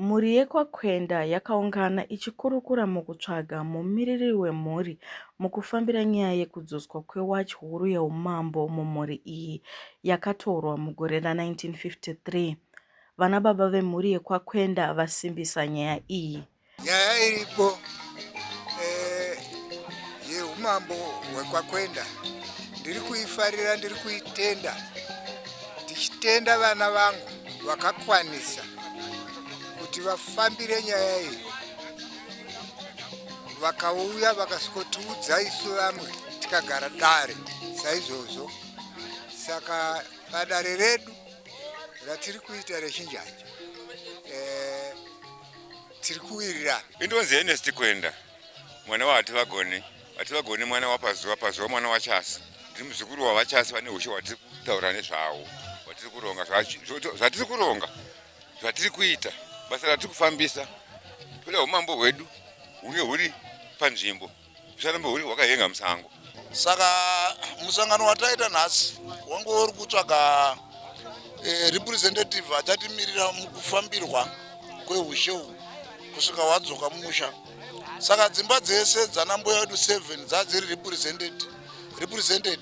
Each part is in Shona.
Mhuri yekwaKwenda yakaungana ichikurukura mukutsvaga mumiriri wemhuri mukufambira nyaya yekudzoswa kwewachi huru yeumambo mumhuri iyi yakatorwa mugore ra1953. Vana baba vemhuri yekwaKwenda vasimbisa nyaya iyi. Nyaya iripo eh, yeumambo hwekwakwenda ndiri kuifarira, ndiri kuitenda, ndichitenda vana vangu vakakwanisa kuti vafambire nyaya iyi, vakauya vakasikotiudza isu vamwe tikagara dare saizvozvo. Saka padare redu ratiri kuita rechinjanja eh, tiri kuwirirana indonzi enesti kuenda mwana wahati vagoni hati vagoni mwana wapazuva pazuva mwana wachasi ndiri muzukuru wavachasi vane ushe hwatiri kutaura nezvawo hwatiri kuronga zvatiri kuronga zvatiri kuita basa ratiri kufambisa toda umambo hwedu hunge huri panzvimbo Zvaramba huri wakahenga musango. Saka musangano wataita nhasi wange uri kutsvaga eh, representative achatimirira mukufambirwa kweushe uhu kusvika hwadzoka musha. Saka dzimba dzese dzana mbuya vedu 7 dzadziri represented represented.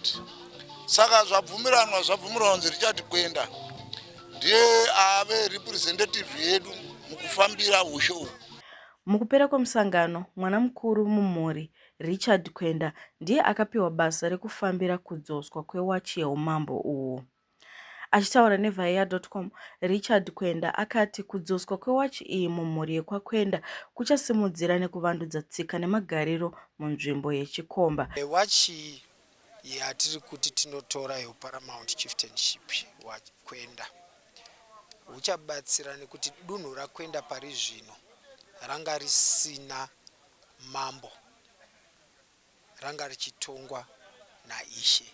Saka zvabvumiranwa zvabvumiranwa kunzi richati kwenda ndiye ave representative yedu mukufambira ushe uhu. Mukupera kwemusangano, mwana mukuru mumhuri, Richard Kwenda, ndiye akapiwa basa rekufambira kudzoswa kwewachi yeumambo uhu. Achitaura neVaEya.com, Richard Kwenda akati kudzoswa kwewachi iyi mumhuri yekwaKwenda kuchasimudzira nekuvandudza tsika nemagariro munzvimbo yeChikomba. Wachi iyi yatiri kuti tinotora yeUparamount Chieftainship hwaKwenda huchabatsira nekuti dunhu raKwenda pari zvino ranga risina mambo, ranga richitongwa naIshe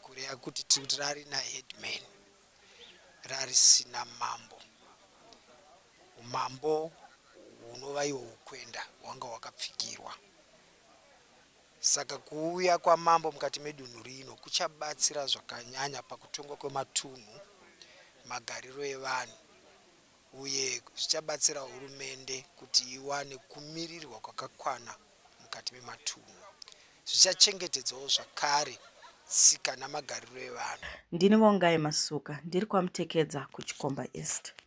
kureva kuti tiri kuti rarina headman, rarisina mambo. Umambo hunova ihwo hwoKwenda hwanga hwakapfigirwa. Saka kuuya kwamambo mukati medunhu rino kuchabatsira zvakanyanya pakutongwa kwematunhu, magariro evanhu uye zvichabatsira hurumende kuti iwane kumirirwa kwakakwana mukati mematunhu. Zvichachengetedzawo zvakare tsika namagariro evanhu. Ndini Vongai Masuka, ndiri kwaMtekedza kuChikomba East.